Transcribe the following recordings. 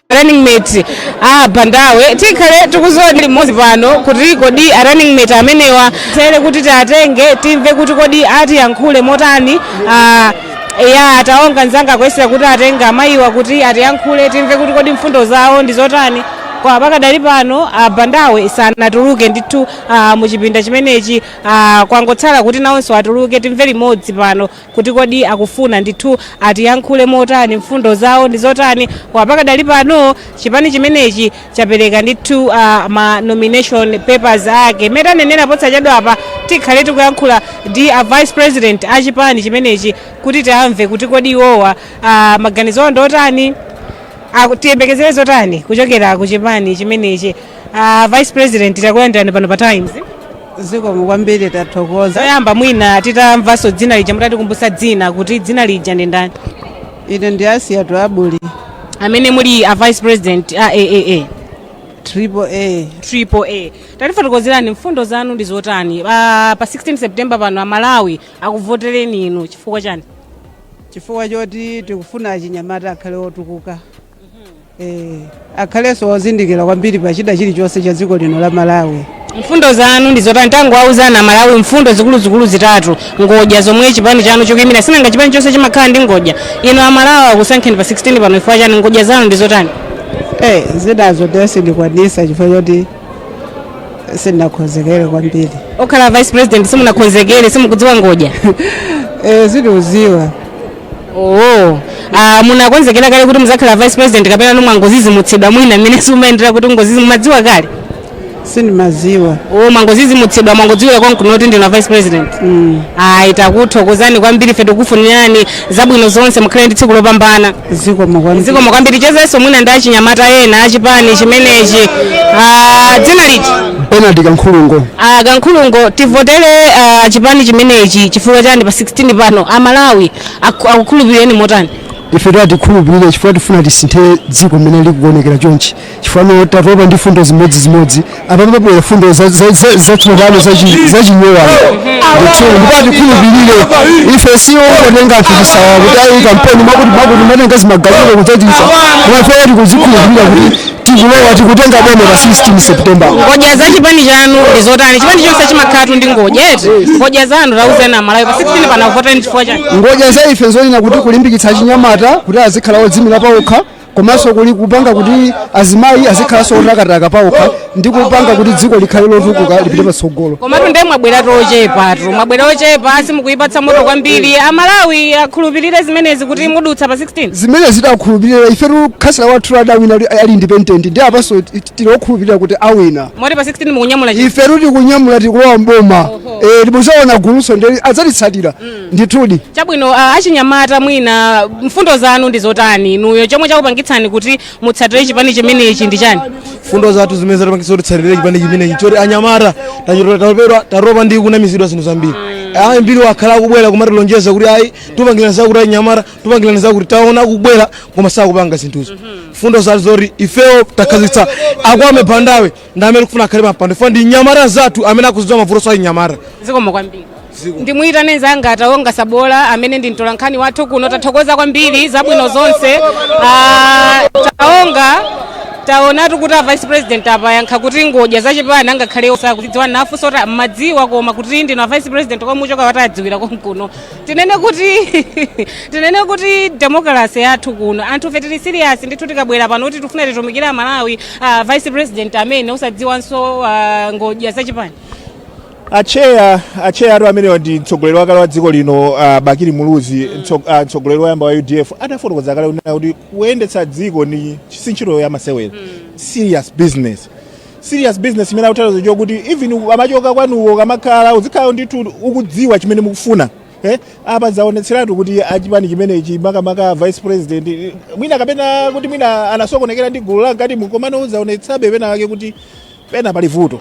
running mate a bandawe tikhale tikudziwa limodzi pano kuti kodi a running mate amenewa tere kuti tiatenge timve kuti kodi atiyankhule motani ah, ya taona nzanga kuyesera kuti atenge amayiwa kuti atiyankhule timve kuti kodi mfundo zawo ndi zotani koma pakadali pano a bandawe sanatuluke ndithu ah, mu chipinda chimenechi ah, kwangotsala kuti nawonso atuluke timve limodzi pano kuti kodi akufuna ndithu atiyankhule motani, mfundo zawo ndi zotani, koma pakadali pano chipani chimenechi chapereka ndithu ma nomination papers ake. Mmene tanenera posachedwapa tikhale tikuyankhula ndi a vice president a chipani chimenechi kuti tiamve kuti kodi iwowa maganizo awo ndi otani, tiyembekezere zotani kuchokera ku chipani chimenechi. A vice president takulandirani pano pa Times. zikomo kwambiri tathokoza choyamba mwina titamvanso dzina lija mutatikumbutsa dzina kuti dzina lija ndi ndani ine ndi asiyatu abuli amene muli a vice president a aaa triple a tatifotokozerani mfundo zanu ndi zotani pa, pa 16 september pano amalawi akuvotereni inu chifukwa chani chifukwa choti tikufuna achinyamata akhale otukuka Eh, akhalenso ozindikira kwambiri pa chida chilichonse cha dziko lino la malawi mfundo zanu ndi zotani tangowauzani amalawi mfundo zikuluzikulu zitatu ngodya zomwe chipani chanu chikuyimira sinanga chipani chonse chimakhala ndi ngodya inu amalawi akusankheni pa 16 pano chifukwa chani ngodya zanu ndi zotani Eh, zinazo nde sindikwanisa chifukwa choti sindinakonzekere kwambiri pokhala vice president simunakonzekere simukudziwa ngodya e, sindikuziwa oo ah, munakonzekera kale kuti muzakhala vice president kapena mwangozizimutsidwa mwina mmene zimayendera kuti ngozizi mumadziwa kale sindimaziwa oo mwangozizimutsidwa mwangodziwira konkuno kuti ndinu vice president mm. ayi takuthokozani kwambiri ife tikufunirani zabwino zonse mukhale ndi tsiku lopambana zikomo kwambiri zikomo kwambiri chezenso mwina ndi achinyamata ena achipani chimenechi Ah, dzina ndi benard kankhulungo Ah, kankhulungo tivotere ah, chipani chimenechi chifukwa chani pa 16 pano amalawi aku- akukhulupirireni motani ife atikhulupirire chifukwa tifuna tisinthe dziko mmene likuonekera chonchi chifukwa tatopa ndi fundo zimodzimodzi apa pabwera fundo zatsopano zanyowani ndithu ndipo atikhulupirire ife si ongotenga anthu chisawa kuti ayi kampeni mwakuti mwakuti amatenga zimagalimoto kudzachisa koma ife tikuzikhulupirira kuti tikulowa tikutenga boma pa 16 september ngodya za chipani chanu ndi zotani chipani chonse chimakhalatu ndi ngodya eti ngodya zanu tauzani amalawi pa 16 pano avote chifukwa chani ngodya za ife zonena kuti kulimbikitsa achinyamata kuti azikhala odzimira paokha komanso kuli kupanga kuti azimayi azikhalanso otakataka paokha ndi kupanga kuti dziko likhale lotukuka lipite patsogolo komatu ndiye mwabweratu ochepatu mwabwera ochepa simukuyipatsa moto kwambiri amalawi akhulupirire zimenezi kuti mudutsa pa 16 zimenezi takhulupirira ifetu khansala wathu adawina ali- ali independent ndi apanso ti- tili okhulupirira kuti awina moti pa 16 mukunyamula chi- ife tikunyamula tikulowa mboma ndipo tiona gulunso ndi adzatitsatira ndithudi chabwino uh, achinyamata mwina mfundo zanu ndi zotani inuyo chomwe chakupangitsani kuti mutsatire chipani chimenechi ndi chani mfundo zathu zimene zatipangitsa kuti titsatire chipani chimenechi choti anyamata tachotera tatopa- tatopa ndi kunamizidwa zinthu zambiri ambiri akhala akubwera kumatilonjeza kuti ayi tupangirani zakuti anyamata tupangirani zakuti taona akubwera koma sakupanga zinthuzo mfundo zathu zoti ifewo takhazikitsa a Kwame Bandawe ndi amene tikufuna akhale pampando chifukwa ndi mnyamata nzathu amene akuzidziwa mavutonso a anyamata zikomo kwambiri ndimuyitane nzanga a Taonga Sabola amene ndi mtolankhani wathu kuno tathokoza kwambiri zabwino zonse Ah, Taonga taonatu kuti a vice president apa ayankha kuti ngodya zachipani angakhale osakuzidziwa nafunsa kuti mumadziwa koma kuti ndinu a vice president komwe muchoka watadziwira konkuno tinene kuti tinene kuti demokarasi yathu kuno anthufe tili serious ndithu tikabwera pano kuti tifuna titumikire amalawi uh, vice president amene osadziwanso uh, ngodya zachipani atcheya atcheyatu amene ndi mtsogoleri wakale wa dziko lino uh, bakili muluzi mtso- ah, mtsogoleri woyamba wa udf adafotokoza kale kunena kuti kuyendetsa dziko ni si ntchito yamasewera serious business serious business imene akutanthauza kuti even amachoka kwanuko kamakhala uzikhala ndithu ukudziwa chimene mukufuna eh apa zaonetseratu kuti achipani chimenechi makamaka vice president eh, mwina kapena kuti mwina anasokonekera ndi gulu lankatimu komano zaonetsabe pena wake kuti pena pali vuto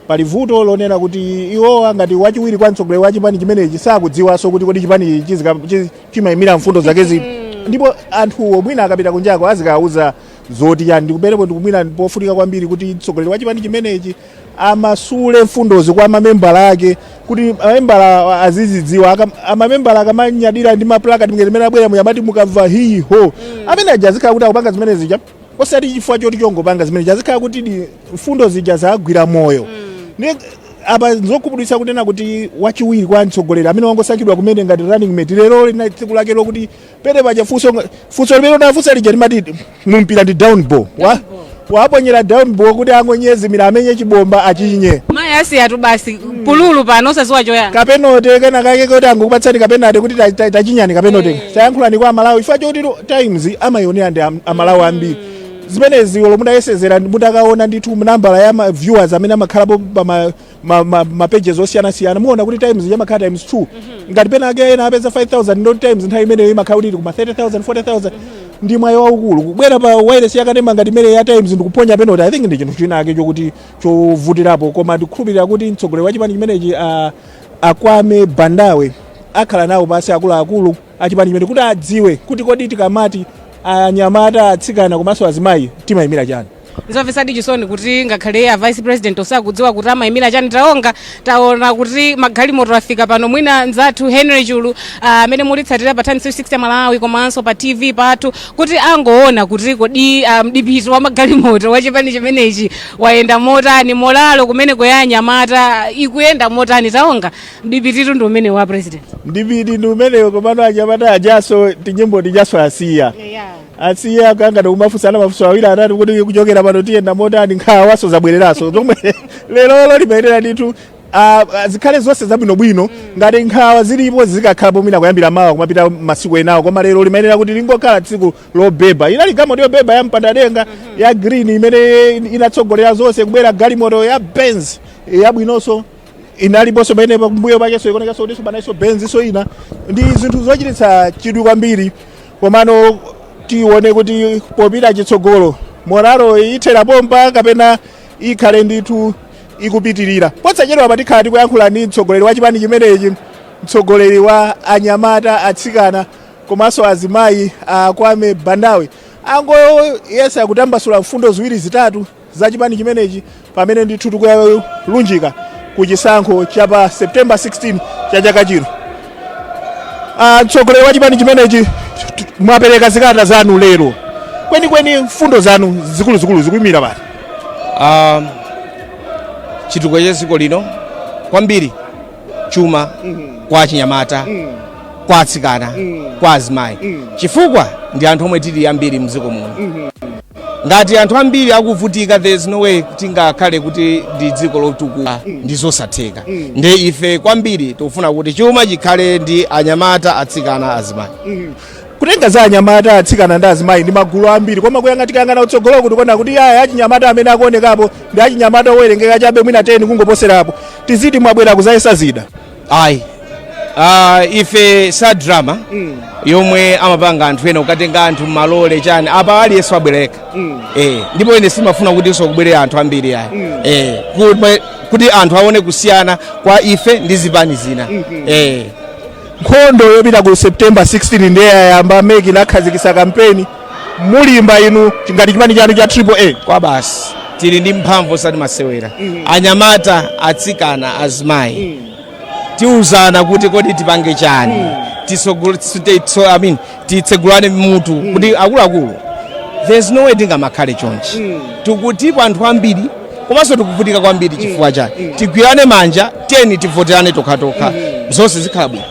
pali vuto lonena kuti iwowa ngati wachiwiri kwa mtsogoleri wa chipani chimenechi sakudziwanso kuti kodi chipani chizika- chi- chimayimira mfundo zake ziti ndipo anthuwo mwina akapita kunjako azikawuza zoti chani ndikuberepo ndikumwira pofunika kwambiri kuti mtsogoleri wa chipani chimenechi amasule mfundozi kwa mamembala ake kuti mamembala azizidziwa Aka- amamembala akamanyadira ndi maplakati ngati mmene abwera muja amati mukamva hii ho amene aja azikhala kuti akupanga zimene zija osati chifukwa choti chongopanga zimene azikhala kuti di- mfundo zija zagwira moyo Ne- apa nzokhumudwitsa kunena kuti wachiwiri kwa mtsogoleri amene wangosankhidwa kumene ngati running mate lero lina tsiku lake lokuti pene paja funso nga- funso limene unafunsa lija limati mumpira ndi down ball wawaponyera down ball kuti angonyezimira amenye chibomba achinye mayi asiyatu basi pululu pano osadziwa choyankha kapenote kena kake kuti angokupatsani kapenote kuti ta- ta- tachinyani kapenote tayankhulani kwa amalawi chifukwa choti lo- times amayionera ndi am- amalawi ambiri zimenezi olo mutayesezera mutakaona ndithu nambala ya ma viewers amene amakhalapo pa ma ma, ma, ma pages osiyanasiyana muona kuti times yamakhala times 2 ngati pena ake ena apeza 5000 ndo times nthawi imeneyo imakhala kuti ili kuma 30000 40000 ndi mwayi waukulu kubwera pa wayilesi yakanema ngati imeneyi ya times ndikuponya penalty i think ndi chinthu chinachake chokuti chovutirapo koma ndikukhulupirira kuti mtsogoleri wa chipani chimenechi a- akwame bandawe akhala nawo pasi akuluakulu achipani chimenechi kuti adziwe kuti kodi tikamati anyamata atsikana komanso azimayi timayimira chani nzomvetsadi chisoni kuti ngakhale iye a vice president osakudziwa kuti amayimira chani taonga taona kuti magalimoto afika pano mwina nzathu henry chulu ah, amene mukutitsatira pa times 360 malawi komanso pa tv pathu kuti angoona kuti kodi ah, mdipiti wa magalimoto wa chipani chimenechi wayenda motani moralo kumene kwa anyamata ikuyenda motani taonga mdipititu ndi umene wa president mdipiti ndi umeneyo komano anyamata ajanso tinyimbo tijanso asiya yeah. asiya akangana kumafunsana mafunso awiri atatu kuti kuchokera pano tiyenda motani nkhawanso zabwereranso zomwe lerolo limayenera ndithu ah, ah, zikhale zonse zabwinobwino ngati nkhawa zilipo zikakhalapo mwina kuyambira mawa kumapita masiku enawo koma lero limayenera kuti lingokhala tsiku lobeba inali galimoto yobeba ya mpandadenga ya green imene inatsogolera zonse kubwera galimoto ya benz yabwinonso inaliponso pamene pambuyo pakenso ikuonekanso kutinso panalinso benznso ina ndi zinthu zochititsa chidwi kwambiri komano tione kuti popita chitsogolo moralo ithera pompa kapena ikhale ndithu ikupitirira posachedwa apa tikhala tikuyankhula ndi mtsogoleri wa chipani chimenechi mtsogoleri wa anyamata atsikana komanso azimayi a kwame bandawe angoyese kutambasula mfundo ziwiri zitatu za chipani chimenechi pamene ndithu tikuyalunjika ku chisankho cha pa september 16 cha chaka chino Ah, mtsogoleri wa chipani chimenechi t- t- mwapereka zikalata zanu lero kwenikweni mfundo zanu zikuluzikulu zikuyimira pati Ah, chitukuko cha dziko lino kwambiri chuma kwa achinyamata kwa atsikana kwa azimayi chifukwa ndi anthu omwe tili ambiri mdziko muno ngati anthu ambiri akuvutika there is no way tingakhale kuti ndi dziko lotukuka ndi zosatheka nde ife kwambiri tikufuna kuti chuma chikhale ndi anyamata atsikana azimayi kutenga za anyamata atsikana ndi azimayi ndi magulu ambiri koma kuyang'a tikayang'ana kutsogolo kuti kuona kuti aya achinyamata amene akuonekapo ndi achinyamata owerengeka chabe mwina 10 kungoposerapo tiziti mwabwera kudzayesa zida ayi Ah, ife sa drama yomwe amapanga anthu ena kukatenga anthu m'malole chani apa aliyense wabwereka eh, ndipo ine sindimafuna kuti nso kubwere anthu ambiri ayi eh, kuti- kuti anthu aone kusiyana kwa ife ndi zipani zina eh. nkhondo yopita ku september 16 ndiye yayamba meki inakhazikitsa kampeni mulimba inu ngati chipani chanu cha triple a kwa basi tili ndi mphamvu osati masewera anyamata atsikana azimayi tiuzana kuti kodi tipange chani Tisogol- tite- so- I mean, titsegulane mutu kuti akuluakulu there's no way tingamakhale chonchi titipo anthu ambiri komanso tikuvutika kwambiri chifukwa chani tigwirane manja tiyeni tivoterane tokhatokha zonse zikhala bwino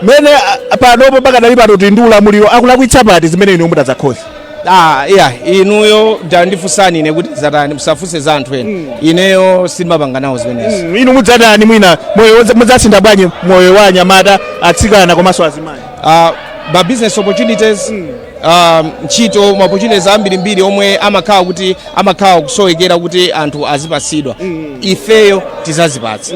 mene ah, panopo pakadali pano ali ndi ulamuliro akulakwitsa pati zimene inuyo mutadzakonza Ah, iyayi inuyo tandifunsani ine kuti zatani musafunse za anthu ena ineyo sindimapanga nawo zimenezi inu mudzatani mwina moyo wodza- mudzasintha bwanji moyo wa anyamata atsikana komanso azimayi uh, ma business opportunities um, ntchito ma opportunities ambirimbiri omwe amakhala kuti amakhala akusowekera kuti anthu azipatsidwa ifeyo tizazipatsa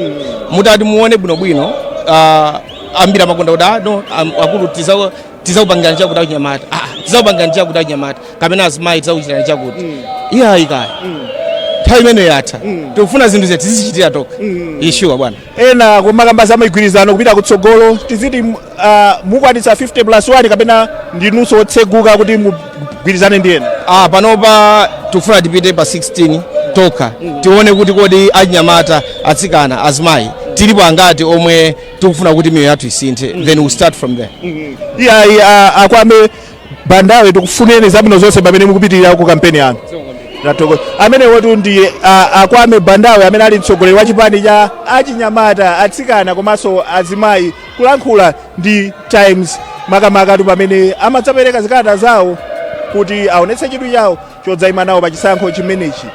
mutati muone bwinobwino ah, ambiri amakonda kuti "Ah, no am- akulu tiza- tizakupangirani chakuti achinyamata Ah, tizakupangirani chakuti achinyamata kapena azimayi tizakuchitirani chakuti iyayi kaya nthawi imeneyo yatha tikufuna zinthu zathu tizichitira tokha ishuwa bwana ena akumakamba za migwirizano kupita kutsogolo tiziti uh, mukwanitsa 50 plus 1 kapena ndinunso otseguka kuti mugwirizane ndi ena ah, panopa tikufuna tipite pa 16 tokha tione kuti kodi anyamata atsikana azimayi tilipo angati omwe tikufuna kuti miyoyo yathu isinthe then we'll start from there iyayi a Kwame Bandawe tikufunileni zabwino zonse pamene mukupitirira ku kampeni yanu. Ndathokoza. Amenewotu ndi a- a Kwame Bandawe amene ali mtsogoleri wa chipani cha anyamata, atsikana komanso azimayi kulankhula ndi Times makamakatu pamene amadzapereka zikalata zawo kuti aonetse chidwi chawo chodzayima nawo pa chisankho chimenechi.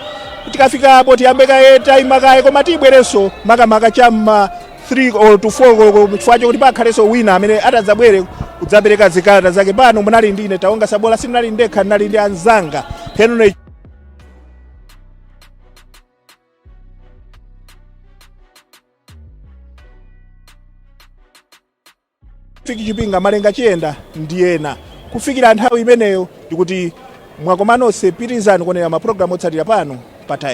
Tikafika apo tiyambe kaye tayima kaye koma tibwerenso makamaka chamma 3 koloko to 4 koloko chifukwa chokuti pakhalenso wina amene atadzabwere kudzapereka zikalata zake pano munali ndi ine taonga sabola sindinali ndekha ndinali ndi anzanga henry fiki chipinga malenga chiyenda ndi ena kufikira nthawi imeneyo ndikuti mwakomanonse pitirizani kuonera mapulogalamu otsatira pano pa times